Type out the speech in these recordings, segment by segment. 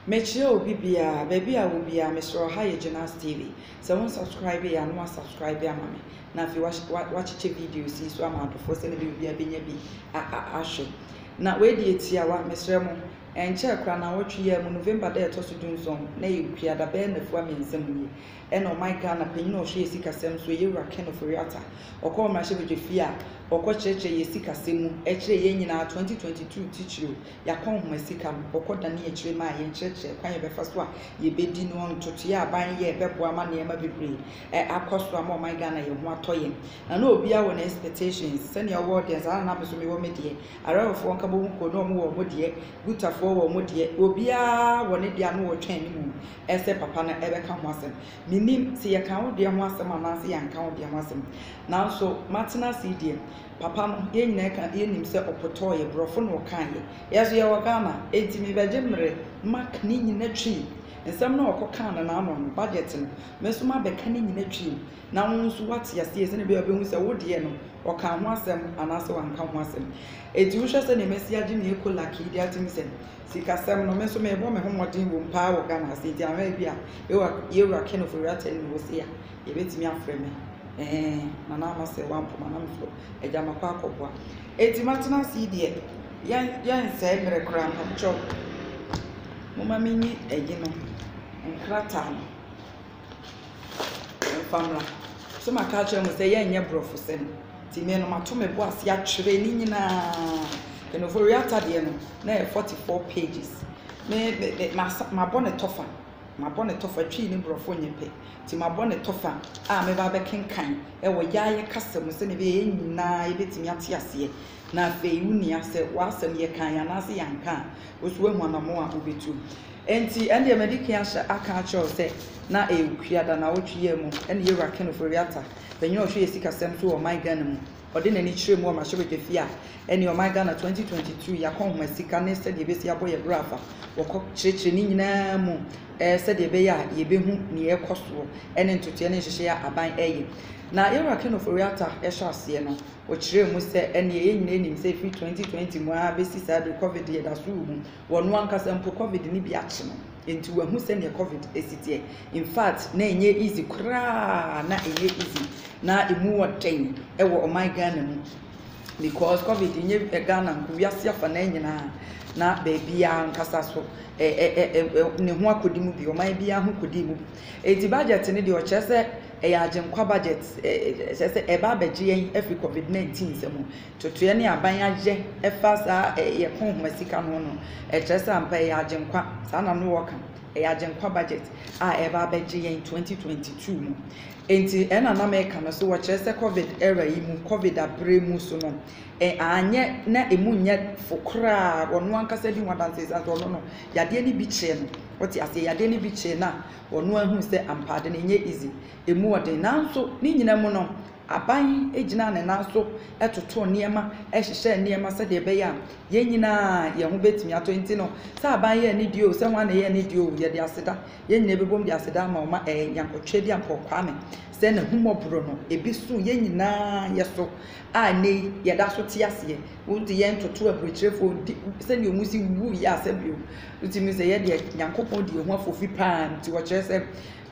Mekyerɛ obi biara, baabi a wɔ biara, mesrɛ wo, ha yɛ Gyinass TV. Sɛ wo nsubscribe yɛ a na woasubscribe ama me, na afei woakyekyɛ videos yi nso ama adɔfoɔ sɛdeɛ ɛbɛyɛ obiara bɛnya bi ahwɛ. Na wei deɛ tiawa, mesrɛ mo, ɛnkyɛɛ koraa nnawɔtwe yi ara mu, November da a ɛtɔ so dunson, na ɛyɛ Ɔkuada, bɛyɛ nnafua mmiɛnsa mu nie, ɛna ɔman Ghana panyin a ɔhwɛ yɛn sikasɛm so, Yewura Ken Ofori-Atta, ɔkɔɔ mmarahyɛbadwafie a ɔkɔkyerɛkyerɛ yɛn sikasɛm mu kyerɛɛ yɛn nyinaa 2022 titiriw. Yɛakɔ nhoma sika no, wɔkɔ danee akyire maa yɛn kyerɛkyerɛɛ kwan a yɛbɛfa so a yɛbɛdi no, ntotoeɛ a aban yɛɛ bɛboa ama nneɛma bebree ɛ akɔ so ama ɔman Ghana yɛn ho atɔ yɛn. Na na obiara wɔ ne expectations, sɛdeɛ ɔwɔ deɛ saa ara na me nso mewɔ me deɛ, Arawafoɔ Nkabomu kuo no wɔn wɔ wɔn deɛ, Gutafoɔ wɔ wɔn deɛ, obiara wɔ ne deɛ a na wɔtwɛn ne mu ɛ sɛ papa no ɛbɛka ho asɛm. Mennim sɛ yɛkaa wo deɛ ho asɛm anaa sɛ yɛanka wo deɛ ho asɛm, nanso matena ase yi deɛ, Papa no yɛn nyinaa ka yɛ nim sɛ ɔpotɔɔ yɛ brɔfo na ɔkaa yɛ yɛ so yɛ wɔ Ghana enti me bɛgye mmrɛ ma ka ne nyina twii nsɛm no a ɔkɔ kaa no naano no budget no me so ma bɛka ne nyina twii na wo nso wate aseɛ sɛnea bɛyɛ ɔbɛhu sɛ wo deɛ no ɔkaa ho asɛm anaa sɛ wanka ho asɛm enti wo hwɛ sɛnea mɛsi agye me eko lak yi de atim sɛ sika sɛm no me nso mebɔ me ho mmɔden wɔ mu paa wɔ Ghana ase enti ahwɛ bi a yɛ wura kenofo wura tɛn ne wɔ se a Yɛbɛtumi afrɛ me ɛɛ Nana Ama sɛ woampo ma na mefrɛ wo Agya makɔ akɔboa Enti matena ase yi deɛ yɛn yɛnsɛe mmerɛ koraa mpakyɛw Momma menyi ayi no nkrataa no mfa mmra So maka akyerɛ mo sɛ yɛnyɛ borɔfosɛm Nti me no mato me bo ase atwerɛ ne nyinaa Kenoforiata deɛ no na ɛyɛ 44 pages Me me me masa mabɔ ne tɔfa Mabɔ no tɔfa, Twi ne Borɔfo nyɛ pɛ, nti mabɔ no tɔfa a mɛba abɛkenkan wɔ Yaaye kasa mu sɛnea ɛbɛyɛ a yɛn nyinaa yɛbɛtumi ate aseɛ. Na afei, wo nua, sɛ w'asɛm yɛkaeɛ anaasɛ yɛanka a, wo nso woahu anammɔn a wobɛtu. Enti, ɛndeɛ madi kan ahyɛ aka akyerɛ wo sɛ, na ɛyɛ Okua da, nnawɔtwe yi ara mu, ɛne Yawura Ken Ofori-Atta, panin a ɔhwɛ yɛn sikasɛm so wɔ ɔman Ghana mu, Ɔde n'ani kyerɛɛ mu wɔ Mahyɛbadwafie a ɛne Ɔman Ghana 2022 Yɛakɔ Nhoma Sika ne Sɛdeɛ Yɛbɛsi Abɔ Yɛn Bra Afa wɔ kɔ kyerɛkyerɛ ne nyinaa mu sɛdeɛ ɛbɛyɛ a yɛbɛhu nea ɛrekɔ soɔ ne ntotoeɛ ne nhyehyɛeɛ a aban reyɛ. Na Yɛwura Ken Ofori Atta hyɛ aseɛ no, ɔkyerɛɛ mu sɛ, Ɛnneɛ yɛn nyinaa nim sɛ ɛfiri 2020 mu ara bɛsi saa berɛ yi, Covid yɛda so rehu. Wɔ ɔno ankasa mpo, Covid no bi akye no. Nti wahu sɛdeɛ covid si teɛ infact na ɛnyɛ easy koraa na ɛnyɛ easy na ɛmu wɔ dɛn ɛwɔ ɔman Ghana mu because covid nyɛ eh, Ghana nko wiase afa na nyinaa na baabiara nkasa so ɛ ɛ ɛ ne ho akɔdi mu bi ɔman biara ho kɔdi mu bi nti budget no deɛ ɔkyerɛ sɛ ɛyɛ agyenkwa budget ɛkyerɛ sɛ ɛba abɛgye yɛn afiri covid 19 sɛ mu Totoeɛ ne aban ayɛ ɛfa saa yɛ pon homa sika no ho no, ɛkyerɛ sɛ ampa ɛyɛ Agyenkwa, saa na no wɔka, ɛyɛ Agyenkwa budget a ɛreba abɛgye yɛn 2022 mu. Enti ɛna na meka no so wɔ kyerɛ sɛ covid era yi mu, covid aberɛ mu so no, ɛ, anyɛ na ɛmu nyɛ fo koraa, wɔno ankasa di ho adanseɛ ɛsiane sɛ ɔno no yadeɛ no bi kyee no, wote aseɛ, yadeɛ no bi kyee no a, ɔno ahunu sɛ ampa ade no ɛnyɛ easy, ɛmu ɔden, nanso ne nyina mu no, Aban gyinaa ne nan so totoo nneɛma, hyehyɛɛ nneɛma sɛdeɛ ɛbɛyɛ a yɛn nyinaa yɛn ho bɛtumi atɔ. Enti no, sɛ aban yɛ anidie o, sɛ hwan na ɛyɛ anidie o, yɛde aseda. Yɛn nyinaa bɛbom de aseda ama wo ma ɛɛ Nyankɔtwe de Ampɔɔ Kwame sɛ n'ahummɔborɔ no, ebi so yɛn nyinaa yɛ so a ɛnnɛ yi yɛda so te aseɛ. Wonte yɛn ntoto aburokyerɛfoɔ nti sɛdeɛ wɔn si wuo yɛ asɛm bio. Wotumi hu sɛ yɛn deɛ Nyankopɔn di yɛn ho afofi pa ara nti wɔkyerɛ sɛ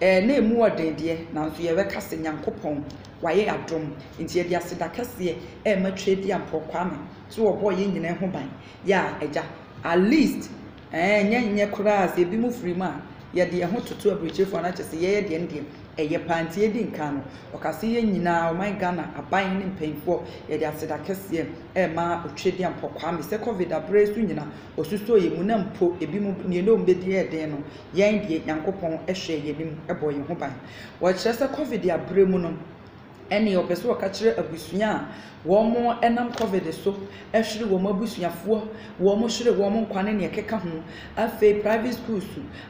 Ɛɛ na ɛmu wɔ den deɛ, nanso yɛbɛka sɛ Nyankopɔn wayɛ adom, nti yɛde aseda kɛseɛ ɛɛma Tweadia Mprɔw Kwame sɛ ɔbɔɔ yɛn nyinaa ho ban, yaa Agya, at least ɛɛ nyɛ nyɛ koraa sɛ ebinom firi mu a yɛde yɛn ho toto aburokyerefoɔ ano akyerɛ sɛ yɛyɛ deɛ ɛno deɛ ɛyɛ paa, nti yɛdi nkan no, ɔkaa sɛ yɛn nyinaa ɔman Ghana aban ne mpaninfoɔ yɛde aseda kɛseɛ ɛɛma Otweadia Mprɔw Kwame sɛ Covid aberɛ yi so nyina Osusoo yɛn mu na mpo ebinom nea na wɔn bedi yɛ den no, yɛn deɛ Nyankopɔn hwɛɛ yɛn anim bɔɔ yɛn ho ban. Wɔkyerɛ sɛ Covid aberɛ mu no, ɛneɛ wɔpɛ sɛ wɔka kyerɛ abusua a wɔnam Covid so hwere wɔn abusuafoɔ, wɔhwere wɔn nkwa ne nea ɛkeka ho. Afei private schools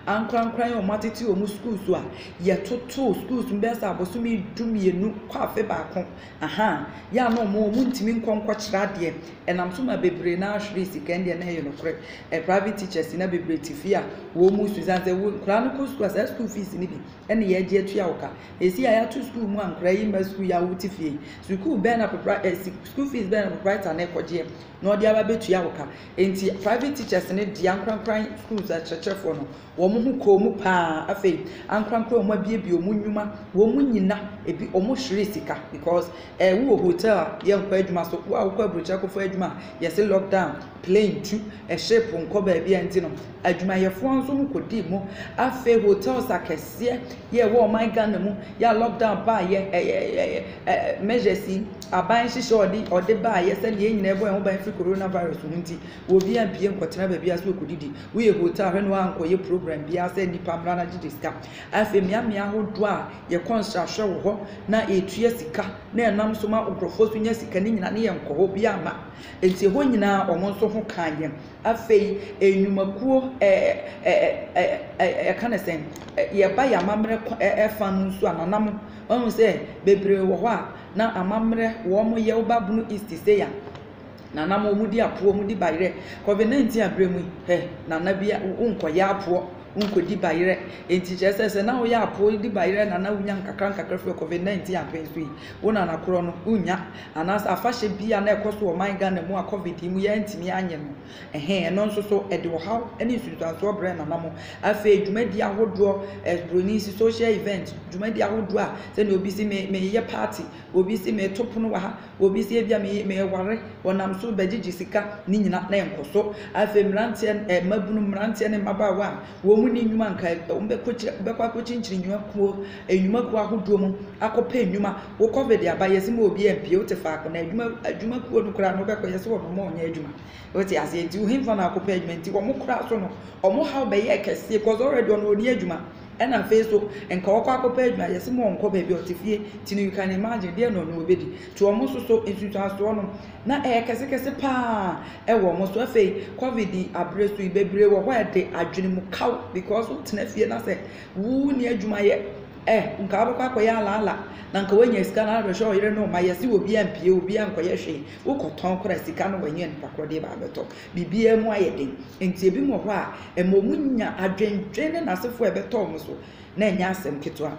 ankorankora yi a wɔatete wɔn schools a, yɛtotoo schools no bɛyɛ sɛ abosome du mmienu kɔ afe baako Aha, yɛ a na ɔmo ɔmo ntumi nkɔ nkɔkyerɛ adeɛ, ɛnam so ma bebree no ara hweree sika, ɛndeɛ na ɛyɛ nokorɛ, ɛ private teachers na bebree te fie a wɔɔmu su, ɛsiane sɛ wo nkoraa no kɔ sukuu a saa sukuu fees no bi ɛne yɛɛgye atua wo ka, ɛsii a yɛato sukuu mu a nkoraa yi mma sukuu yɛ a wo te fie yi, sukuu bɛn na propri ɛ si sukuu fees bɛn na proprietor no ɛkɔgyeɛ na ɔde aba bɛtua wo ka, ɛnti private teachers no de ankorankora schools akyerɛkyerɛfoɔ no Wɔn ho kɔɔ mu paa. Afei ankorankoro a wɔn abiebie wɔn nnwuma, wɔn nyina, ebi wɔn hweree sika because eh wo wɔ hotel a yɛ nkɔ adwuma so, wo a wokɔ abrokyire akɔfa adwuma a yɛse lock down, plane tu, eh ship nkɔ baabi a nti no adwumayɛfoɔ nso ho kɔdii mu. Afei hotels akɛseɛ yɛ ɛwɔ ɔman Ghana mu yɛ a lock down baa yɛ eh eh eh eh measures yi aban hyehyɛ ɔde ɔde baa yɛ sɛdeɛ yɛn nyina ɛbɔ yɛn ho ban firi coronavirus ho nti, Wo obi ampie nkɔtena baabi a sɛ ɔkɔdidi. Woyɛ hotel a hwɛ na woankɔyɛ program biara sɛ nnipa mmra na gyegye sika. Afei mmeammea ahodoɔ a yɛkɔ nsrahwɛ wɔ hɔ na ɛtua sika na ɛnam so ma nkurɔfoɔ nso nya sika no nyinaa ne yɛnkɔ hɔ, obiara mma. Enti ɛhɔ nyinaa wɔn nso ho kaa yɛn. Afei nnwumakuo ɛ ɛ ɛ ɛ yɛka no sɛn, yɛba yɛn amammerɛ kwa ɛ fa no nso a nanam woahu sɛ bebree wɔ hɔ a na amammerɛ wɔyɛ, woba Bono East sei a, Nana mo ɔmo di apoɔ ɔmo di bayerɛ covid 19 abrɛ mu yi hɛ nana bi wo nkɔ yɛ apoɔ wo nkɔ di bayerɛ enti kyerɛ sɛ sɛ na wo yɛ apoɔ di bayerɛ nana wo nya nkakra nkakra firi covid 19 apɛn so yi wo nana korɔ no wo nya anaasɛ afahyɛ bi a na ɛkɔ so wɔ man Ghana mu a covid yi mu yɛ ntumi anyɛ no ɛhɛn ɛno nso so ɛde ɔhaw ne nsunsuansoɔ brɛ nana mo afei dwumadi ahodoɔ ɛbroni si social event dwumadi ahodoɔ a sɛdeɛ obi si me meyɛ party obi si me to pono wɔ ha Obi sɛ ebia me meware, ɔnam so bɛgyegye sika, ne nyina na ɛnkɔ so. Afei mmeranteɛ ɛ mmabunu, mmeranteɛ ne mmabaawa a wɔn nni nnwuma nka ɛ wɔbɛkɔ kyi bɛkɔ akɔkyinkyini nnwuma kuo nnwuma kuo ahodoɔ mu akɔpɛ nnwuma. Wo covid aba yɛse ma obiara mpue wote faako na adwuma adwuma kuo no koraa no wobɛkɔ yɛse wɔn mma wɔnyɛ adwuma. Wote aseɛ nti wo henfa na akɔpɛ adwuma nti wɔn koraa so no wɔn haw bɛyɛɛ kɛseɛ cause already ɔno ɔnni adwuma. Ɛna afei nso nka wɔkɔ akɔpɛ adwuma yɛse mo ɔnkɔ baabi a ɔte fie ti no you can imagine deɛ na ɔne ɔbɛdi ti ɔmo nso so nsusuansoɔ no na ɛyɛ kɛse kɛse paa ɛwɔ ɔmo so afei covid abere so yi bebree wɔ hɔ a ɛde adwene mu kaw because wotena fie na sɛ wo ni adwuma yɛ ɛ nka wobɛkɔ akɔyɛ alaala na nka woanya sika no abɛhwɛ ɔyere no ma yɛse obi ampie obi ankɔyɛ hwee wokɔtɔn kora sika no wanyɛ nipa korɔ deɛ baabɛtɔ Biribiara mu ayɛ den, enti ebinom wɔ hɔ a, ɛma wɔnya adwendwen ne n'asefo a ɛbɛtɔ wɔn so, na ɛnyɛ asɛm ketewa.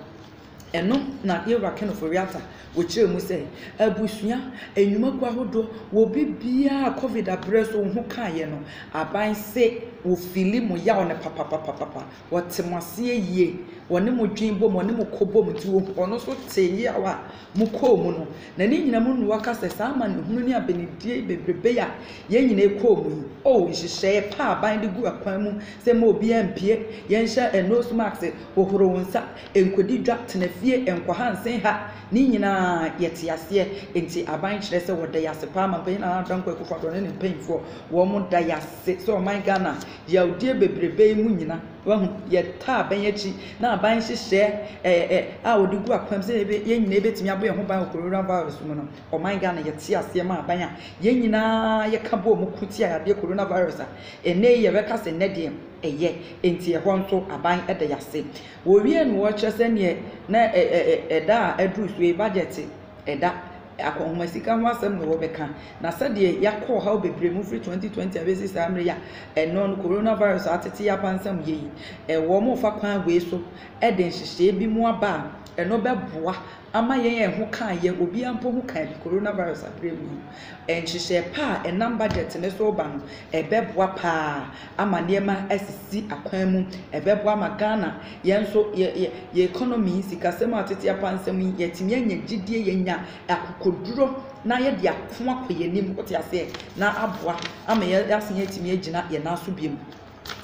Ɛno na Yehowa Kenofo Reatta kyerɛɛ mu sɛ, Abusua nnwuma kuw ahodoɔ wɔ biribiara a Covid aberɛ so wo ho kaeɛ no, aban se wɔfili mo yaw no papapapapa. Ɔte mo aseɛ yie. Ɔne mo dwen bom, ɔne mo kɔ bom, nti ɔhu, ɔno nso tee yeaw a mokɔɔ mu no. Na ne nyina mu noa ka sɛ, saa amanehunu ne abenedie bebrebe a yɛn nyinaa kɔɔ mu yi, oh, nhyehyɛeɛ pa a aban de gu akwan mu sɛ mma obiara mpue, yɛnhyɛ nose mask, hohoro wo nsa, nkɔdi dwa, tena fie, nkɔha nsenha, ne nyinaa yɛte aseɛ. Nti aban kyerɛ sɛ wɔda yɛase paa, Manpanin Nana Addo Dankwa Akufo-Addo ne ne mpaninfoɔ, wɔn da yɛase sɛ ɔman Ghana Yawdie bebrebe yi mu nyina wahu yɛtaa abɛn akyi na aban nhyehyɛɛ ɛɛ ɛ a wɔde gu akwan sɛ yɛbɛ yɛn nyinaa yɛbɛtumi abɔ yɛn ho ban wɔ corona virus mu no ɔman Ghana yɛte aseɛ ma aban a yɛn nyinaa yɛka bɔ mu ko tia yadeɛ corona virus a ɛnɛ yi yɛbɛka sɛ nnɛ deɛ ɛyɛ enti ɛhɔ nso aban ɛda yɛase wɔwie no wɔkyerɛ sɛ neɛ na ɛda a aduru so yi budget ɛda akɔnhoma sika ho asɛm na wɔbɛka, na sɛdeɛ yɛakɔ ɔhaw bebree mu firi 2020 abɛsi saa mmerɛ yi a ɛnnɛ no coronavirus a atete yɛn apansam yɛ yi, wɔrefa kwan wei so de nhyehyɛeɛ bi mu aba a ɛno bɛboa ama yɛn a ɛho ka yɛn, obiara mpo ho ka yɛn, coronavirus aberɛ mu yi, nhyehyɛeɛ pa a ɛnam budget no so reba no, ɛbɛboa pa ara ama nneɛma asisi akwan mu, ɛbɛboa ma Ghana yɛn nso yɛ yɛ yɛ economy yi, sikasɛm a tete apa nsɛm yi, yɛatumi anya gyidie, yɛanya akokoduro na yɛde ako akɔ yɛn anim, wote aseɛ, na aboa ama yɛ yɛasan atumi agyina yɛn nan so biom.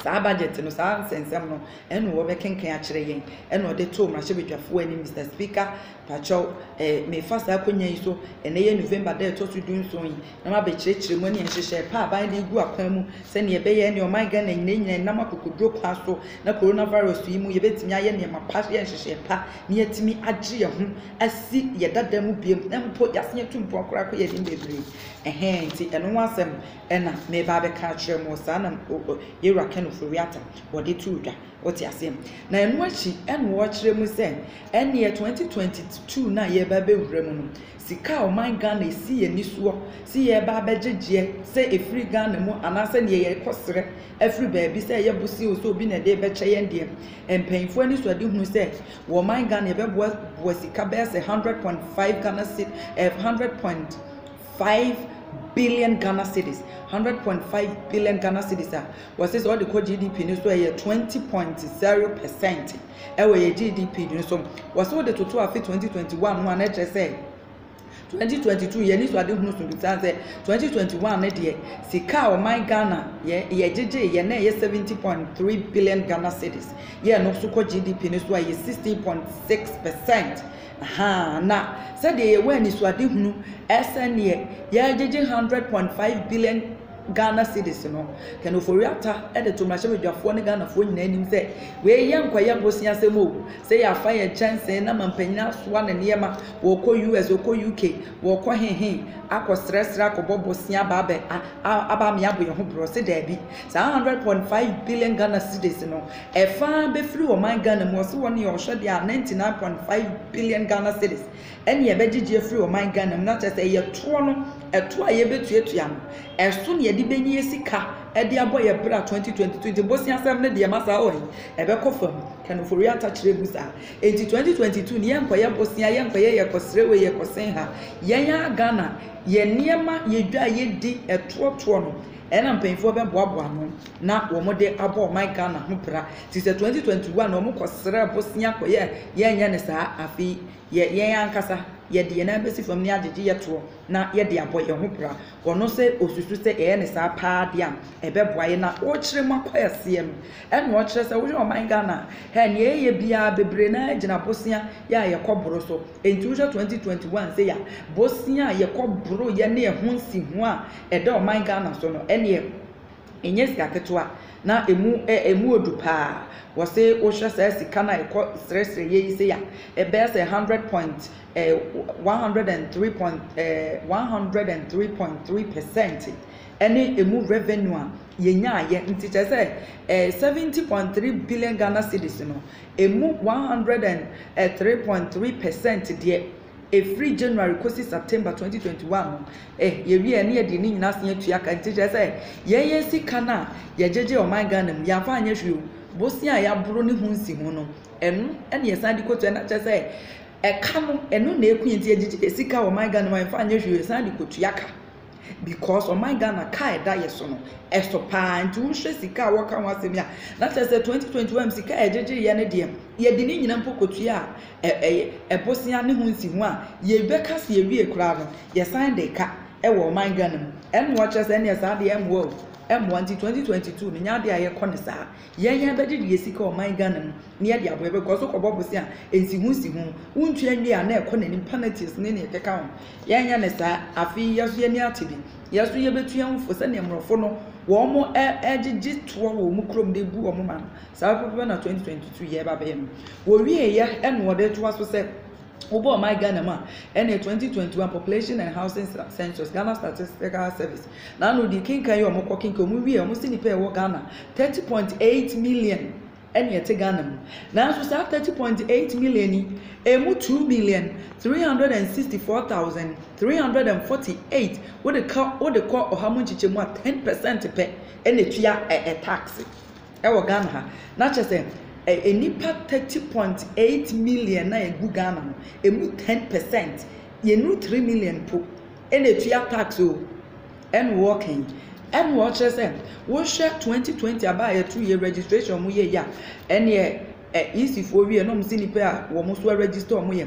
Saa budget no, saa nsɛnsɛm no, ɛna wɔbɛkenkan akyerɛ yɛn, ɛna wɔde too mmarahyɛbadwafoɔ anim, Mister Speaker, pakyɛw, eh, mefa saa akonya yi so, ɛnɛ yɛ November da a ɛtɔ so du nson yi, na mabɛkyerɛkyerɛ mu ne nhyehyɛe pa a aban de regu akwan mu sɛnea ɛbɛyɛ ne ɔman Ghana nyinaa nyinaa ɛnam akokoduro kwan so na coronavirus yi mu yɛbɛtumi ayɛ nneɛma pa yɛ nhyehyɛe pa na yɛatumi agye yɛn ho asi yɛ dada mu biom na mpo yɛasen atu mpoa koraa kɔ yɛn anim bebree ɛhɛn nti ɛno ho asɛm ɛna meba abɛka akyerɛ mo saa na yɛwura Ken Ofori-Atta wɔde too dwa wote aseɛ na ɛno akyi ɛna wɔkyerɛ mu sɛ ɛneɛ 2022 na yɛba bɛwura mu no sika a ɔman Ghana esi yɛn ani soɔ se yɛreba abɛgye gyeɛ sɛ ɛfiri Ghana mu anaasɛ neɛ yɛrekɔ srɛ afiri baabi sɛ ɛyɛ bosea o sɛ obi na ɛde rebɛkyɛ yɛn deɛ, mpaninfoɔ anisoadehunu sɛ wɔ ɔman Ghana yɛbɛboa boa sika bɛyɛ sɛ hundred point five Ghana ced eh, hundred point five billion Ghana cedis hundred point five billion Ghana cedis a wɔse sɛ ɔde kɔ GDP no so ɛyɛ twenty point zero percent. Ɛwɔ yɛ GDP no so. Wɔse wode toto afe 2021 ho a na ɛkyerɛ sɛ 2022 yɛ anisoadehunu so bisaa sɛ 2021 no deɛ sika a ɔman Ghana yɛ yɛgyegye yɛ na ɛyɛ 70.3 billion Ghana cedis yɛ no so kɔ GDP no so a ɛyɛ 16.6 percent ahaa na sɛdeɛ yɛwɔ anisoadehunu ɛsɛneɛ yɛgyegye 100.5 billion Ghana cedis no, Ken Ofori-Atta de to mmarahyɛbadwafoɔ ne Ghanafoɔ nyinaa anim sɛ, Wei yɛ nkɔyɛ boseasɛm o, sɛ yɛafa yɛn kyɛnsee na mampanyin asoa ne nneɛma, wɔrekɔ US, wɔrekɔ UK, wɔrekɔ he he, akɔsrɛsrɛ, akɔbɔ bosea aba abɛ a, a, aba ame abɔ yɛn ho borɔse? Daabi. Saa hundred point five billion Ghana cedis no, ɛfã bɛfiri ɔman Ghana mu, ɔse wɔn yɛ ɔhwɛdeɛ a ninety nine point five billion Ghana cedis Ɛne ɛbɛgyegye afiri ɔman Ghana mu na kyerɛ sɛ ɛyɛ toɔ no, ɛtoɔ a yɛbɛtuatua no, ɛso na yɛde bɛnya yɛ sika de abɔ yɛ bra 2022 nti boseasɛm no deɛ masa ɔɔe, ɛbɛkɔ fam, Ken Ofori-Atta kyerɛɛ mu saa. Enti 2022 no yɛnkɔyɛ bosea, yɛnkɔyɛ yɛkɔsrɛ wei, yɛkɔsen ha. Yɛn ara Ghana, yɛn nneɛma, yɛn dwa a yɛdi, ɛtoɔ toɔ no, ɛna mpanyinfoɔ bɛboaboa ano na wɔde abɔ ɔman Ghana ho bra. Nti sɛ 2021 no wɔkɔsrɛɛ bosea kɔyɛɛ, yɛnyɛ no saa, afei yɛ yɛn ankasa, yɛde yɛn nan besi fam na yɛagyegye yɛn toɔ na yɛde abɔ yɛn ho bra. Ɔno sɛ ɔsusu sɛ yɛyɛ no saa paa deɛ a, ɛbɛboa yɛn. Na wokyerɛ mu akɔ aseɛ no, ɛna ɔkyerɛ sɛ wohwɛ ɔman Ghana a, hɛ, deɛ yɛyɛ biara bebree no ara gyina bosea yɛ a yɛkɔboro so. Enti wohwɛ 2021 sei a, bosea a yɛkɔboroeɛ ne ɛho nsiho a ɛda ɔman Ghana so no, ɛnneɛ, ɛnyɛ sika ketewa na ɛmu ɛmu odu paa wɔse wohwɛ saa sika na ɛkɔ srɛsrɛ yɛ yi sei a ɛbɛyɛ sɛ hundred point ɛɛ one hundred and three point ɛɛ one hundred and three point three percent ɛne ɛmu revenue a yɛnyaayɛ nti kyerɛ sɛ ɛɛ seventy point three billion ghana cedis no ɛmu one hundred and three point three percent deɛ. ɛfiri January kɔsi September 2021 no, eh, yɛwie a, ɛne yɛdeɛ ne nyinaa asan atua ka, nti kyerɛ sɛ, yɛn yɛn sika no a yɛgyegye ɔman Ghana mu, yɛamfa anyɛ hwee o, bosea a yɛaboro ne ho nsi ho no, ɛno na yɛsan de kɔtua, na kyerɛ sɛ, ɛka no, ɛno na ɛku yɛn, nti yɛgyegye yɛn sika wɔ ɔman Ghana mu a yɛmfa anyɛ hwee o, yɛsan de kɔtua ka. because ɔman Ghana car a ɛda yɛ so no ɛso paa nti wohwɛ sika a wɔka ho asɛm yi a na kyerɛ sɛ 2021 sika a yɛgyegyeyɛ no deɛ yɛde ne nyina mpo kɔtua a ɛyɛ ɛbosea ne ho nsi ho a yɛbɛka se yɛwie koraa no yɛsan de ka ɛwɔ ɔman Ghana mu ɛnnoa kyerɛ sɛ ɛneɛ saa deɛ ɛmmoa o ɛmmoa nti 2022 no nyɛ adeɛ a yɛkɔ ne saa Yɛn yɛn bɛgye deɛ yɛsi ka ɔman Ghana mu ne yɛde aboa yɛbɛ kɔ so kɔbɔ bosea nsiho nsiho wo ntua nwie a na ɛkɔ nanim panatius ne neɛ ɛkeka ho yɛn nyɛ no saa afei yɛ so yɛni ate bi yɛ so yɛbɛ tua wo fo sɛdeɛ mmorɔfo no wɔn mo ɛ ɛgye gye toɔ wɔ wɔn kurom de bu wɔn man saa pɛpɛpɛ na 2022 yɛ ɛba bɛyɛ no wɔ wie yɛ ɛna ɔde toa so sɛ Wobɔɔ my Ghana mu a, ɛneɛ 2021 Population and Housing Census, Ghana Statistical Service, na ano di kenkan yi a wɔkɔ kenkan wɔn wie a wɔn se nipa a ɛwɔ Ghana 30.8 million ɛne ɛte Ghana mu. Nanso saa 30.8 million yi, ɛmu 2 million 364,348 wode ka wode kɔ ɔha mu nkyekyɛmu a 10 percent pɛ ɛna ɛtua ɛɛ tax. Ɛwɔ Ghana ha. Na kyerɛ sɛ, ɛ, nnipa thirty point eight million na egu Ghana no, emu ten percent, yɛnuru three million mpo, ɛna etua tax o. Ɛna wɔɔka yi. Ɛna ɔkyerɛ sɛ, wohwɛ twenty twenty aba a yɛto yɛ registration a wɔyɛ yi a, ɛneɛ, ɛ, EC foɔ wie na wɔn se nnipa a wɔn nso a register wɔn yɛ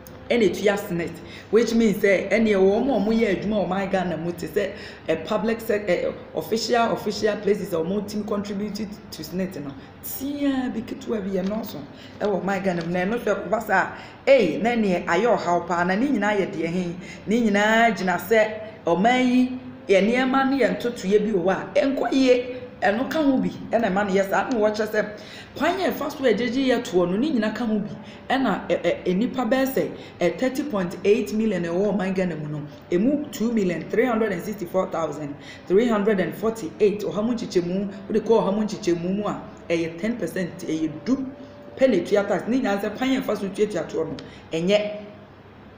ɛna ɛtua senate which means sɛ ɛneɛ wɔn a wɔyɛ adwuma wɔ ɔman Ghana mu te sɛ ɛ public sɛk ɛ official official places a wɔtumi contribute to senate no tiaa bi ketewa bi ɛnɔɔso ɛwɔ ɔman Ghana mu na ɛno hwɛ kɔba saa ei na ɛneɛ ayɛ ɔhaw paa na ne nyinaa yɛ deɛ he ne nyinaa gyina sɛ ɔman yi yɛ nneɛma ne yɛ ntotoeɛ bi wɔ hɔ a ɛnkɔ yie ɛno ka ho bi ɛna ɛma no yɛ saa na wɔkyerɛ sɛ kwan yɛ ɛfa so a ɛgyegye yɛ toɔ no ne nyina ka ho bi Ɛna ɛ ɛ nnipa bɛyɛ sɛ ɛ thirty point eight million a ɛwɔ ɔman Ghana mu no, ɛmu two million three hundred and sixty four thousand three hundred and forty eight, ɔha mu nkyekyɛmu, wode kɔ ɔha mu nkyekyɛmu mu a, ɛyɛ ten percent, ɛyɛ du pɛ na ɛtua tax. Ne nyinaa sɛ kwan a ɛfa so tuatua toɔ no, ɛnyɛ.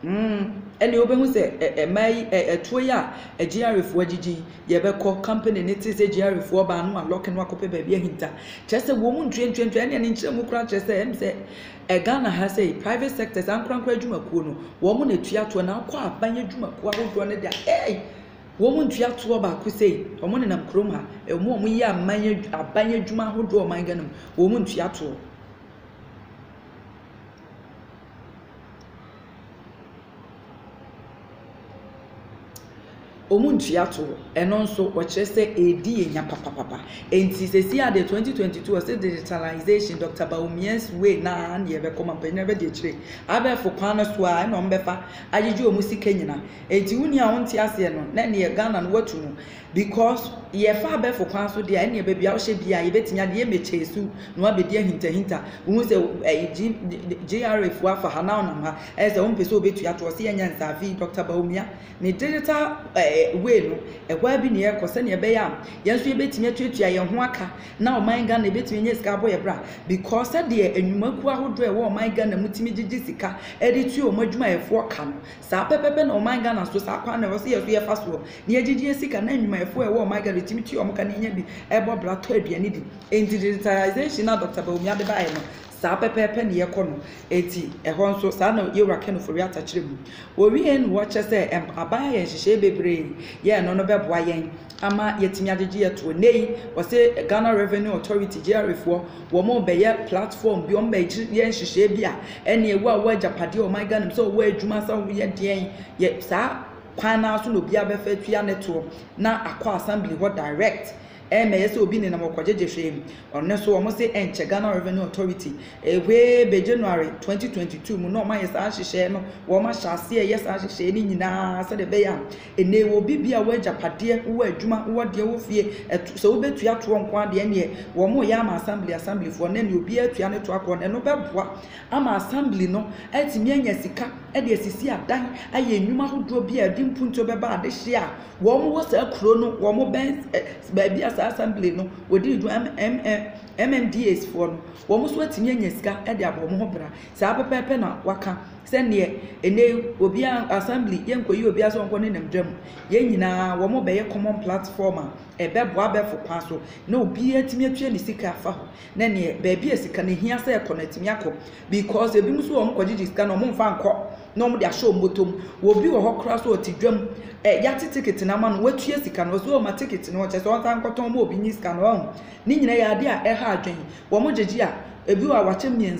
Mm, ɛnneɛ wobɛhu sɛ ɛ, ɛmaa yi, ɛ, ɛtoɔ yi a agyiarefoɔ agyigyi yi, yɛbɛkɔ, company no tee sɛ agyiarefoɔ baa no alɔke no akɔpɛ baabi ahinta. Kyerɛ sɛ wɔn mu ntuantuantua, ɛnneɛ ne nkyerɛmu koraa kyerɛ sɛ, ɛm sɛ ɛ, Ghana ha sɛ private sector, saa nkorankora adwumakuo no, wɔn na ɛtua toɔ, na wokɔ aban adwumakuo ahodoɔ no deɛ a, ei, wɔn mu ntua toɔ baako sei, wɔn nenam kurom ha, ɛ, wɔn a wɔyɛ aman, aban adwuma ahodoɔ ɔman Ghana mu, wɔn mu ntua toɔ. Wɔn ntua toɔ. Ɛno nso ɔkyerɛ sɛ ɛredi yɛn nya papapapa. Enti sɛsi adeɛ 2022 ɔse digitalization Dr. Bawumia's way no ara na yɛbɛkɔ ma mpanyin bɛdi akyire. Abɛɛfo kwan no so ara na wɔbɛfa agyegye wɔn sika nyina. Enti wo nua a wonte aseɛ no na ɛneɛ Ghana no watu mu. Because yɛ fa abɛfo kwan so deɛ a ɛneɛ baabi a wo hyɛ biaa yɛbɛtumi ade yɛ mɛkyɛɛ su na wabɛdi ahintahinta wo hu sɛ ɛyi G GRA foɔ afa ha na wo nam ha ɛyɛ sɛ wo mpɛ sɛ wo bɛtua toɔ sɛ yɛnyɛ nsaa afei Doctor Bawumia ne digital ɛɛ way no ɛhɔ a bi na yɛkɔ sɛdeɛ ɛbɛyɛ a yɛn nso yɛbɛtumi atuatua yɛn ho aka na ɔman Ghana yɛbɛtumi anya sika abɔ yɛ bra because sɛdeɛ nnwumakuo ahodoɔ ɛwɔ ɔman Ghana mu tumi gyegye sika ɛde tua wɔn adwumayɛfoɔ ka no Saa pɛpɛpɛ na ɔman Ghana so saa kwan no ɛwɔ sɛ yɛ so yɛfa soɔ na yɛgye gyeɛ sika na nnwumayɛfoɔ a ɛwɔ ɔman Ghana ɛtumi tua wɔn ka na yɛnya bi ɛbɔ bra tɔ aduane di. Ɛnti digitalization no a Doctor Bawumia de baeɛ no saa pɛpɛpɛ na yɛkɔ no. Ɛnti ɛhɔ nso saa na Yɛwura Ken Ofori-Atta kyerɛ mu. Ɔwieɛ na ɔkyɛ sɛ aban ayɛ nhyehyɛeɛ bebree yɛ ɛno no bɛboa yɛn. ama yɛatumi agyegye atoɔ. Nnɛ yi, wɔse Ghana Revenue Authority, GRA, foɔ, wɔn rebɛyɛ platform bi, wɔn bɛyɛ nhyehyɛɛ bi a ɛneɛ wo a wowɔ agyapadeɛ wɔ ɔman Ghana mu, sɛ wowɔ adwuma, sɛ woyɛ deɛn, yɛ saa kwan no ara so na obiara bɛfa atua ne toɔ na akɔ assembly hɔ direct. Ɛmmɛyɛ sɛ obi nenam hɔ kɔgyegye hwee. Ɔno nso wɔn se ɛnkyɛ Ghana Revenue Authority, way bɛ January 2022 mu na wɔn ayɛ saa nhyehyɛɛ no, wɔn ahyɛ aseɛ reyɛ saa nhyehyɛɛ no nyinaa sɛdeɛ ɛbɛyɛ a Nnɛ yi wɔ bi bia wɔ agyapadeɛ wowɔ adwuma wowɔ deɛ wɔ fie ɛto sɛ wobɛtua toɔ nko ara deɛ ɛneɛ wɔn mo yɛ ama assembly assembly foɔ nnɛ neɛ obiara tua ne toa kɔ ɛno bɛboa ama assembly no atumi anya sika ɛde asisi adan ayɛ nnwuma ahodoɔ bi a ɛde mpuntuo bɛba adehyeɛ a wɔn mo wɔ saa kuro no wɔn mo bɛn baabi a saa assembly no wɔdi ne dwuma MMDAs foɔ no wɔn mo so atumi anya sika ɛde abɔ wɔn ho bra saa pɛpɛɛpɛ na waka Sɛdeɛ ɛnnɛ yi obiara, assembly, yɛnkɔyi obiara sɛ ɔnkɔ nenam dwa mu. Yɛn nyinaa, wɔbɛyɛ common platform a ɛbɛboa abɛɛfo kwan so na obiara atumi atua ne sika afa hɔ. Na neɛ, baabi a sika no hia sɛ ɛkɔ no, atumi akɔ. Because ebinom nso wɔ hɔ, wɔkɔgyegye sika no, wɔmfa nkɔ na wɔde ahyɛ wɔn bɔtɔ mu. Obi wɔ hɔ koraa nso, ɔte dwa mu, ɛ, yɛate ticket no ama no, watua sika no, ɔse o ma ticket no, ɔkyerɛ sɛ ɔnsan nkɔtɔn ma obi nye sika no, ɔho. Ne nyinaa yɛ adeɛ a ɛha adwene. Wɔgyegye a, ebi wɔ hɔ a wɔakyɛ mmiɛnsa.